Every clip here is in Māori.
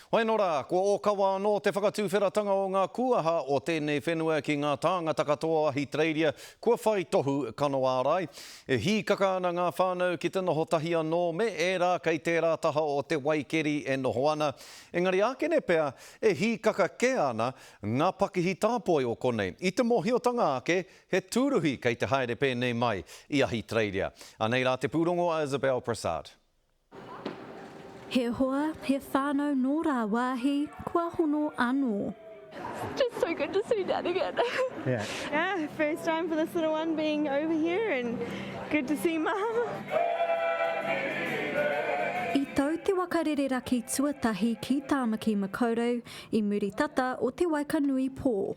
Hoenora, kua ōkawa anō te whakatuwheratanga o ngā kūaha o tēnei whenua ki ngā tāngata katoa o Ahitereiria kua whai tohu kano ārai. E hīkaka ana ngā whānau ki te noho tahi anō me ērā kei tērā taha o te wai keri e noho ana, engari ākene pea e hīkaka kē ana ngā pakihi tāpoi o konei. I te mōhiotanga ake, he tūruhi kei te haere pēnei mai i Ahitereiria. Anei rā te pūrongo a Isabelle Prasad. He hoa, he whānau nō rāwāhi, kua hono anō. Just so good to see Dad again. Yeah. Yeah, first time for this little one being over here and good to see Mum. I tau te waka rereraki tuatahi ki Tāmaki Makaurau i muri tata o te waikanui pō.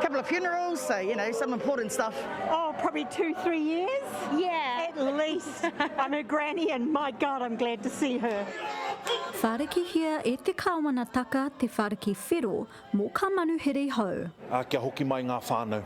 Couple of funerals, so you know, some important stuff. Oh, probably two, three years. Yeah. At least. I'm her granny and my God, I'm glad to see her. Wharekihia e te Kāwanataka te whareki whero mō kā manuhere hou. Ā, kia hoki mai ngā whānau.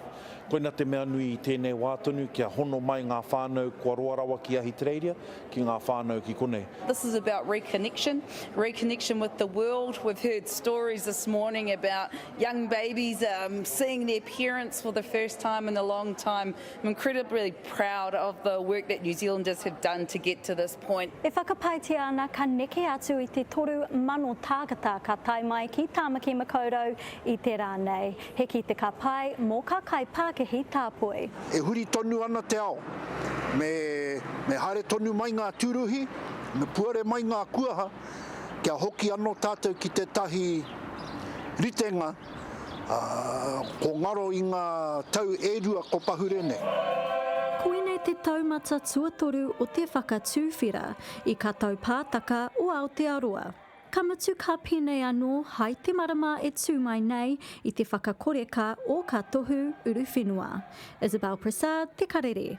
Koina te mea nui i tēnei wā tonu, kia hono mai ngā whānau kua roa rawa ki Ahitereiria, ki ngā whānau ki konei. This is about reconnection, reconnection with the world. We've heard stories this morning about Young babies um, seeing their parents for the first time in a long time. I'm incredibly proud of the work that New Zealanders have done to get to this point. E whakapaetia ana ka neke atu i te toru mano tākata ka tae mai ki Tāmaki Makaurau i te rā nei. He ki te ka pae mō ka kai pākehi tāpoi. E huri tonu ana te ao. Me, me haere tonu mai ngā tūruhi, me puare mai ngā kuaha. kia hoki ano tatou ki tetahi ritenga ko ngaro i nga tau e rua ko pahure nei. Koinei te taumata tuatoru o te whakatuwhera i Katau Pātaka o Aotearoa. Ka mutu ka penei ano hai te marama e tu mai nei i te whakakoreka o ka tohu uruwhenua. Isabelle Prasad, Te Karere.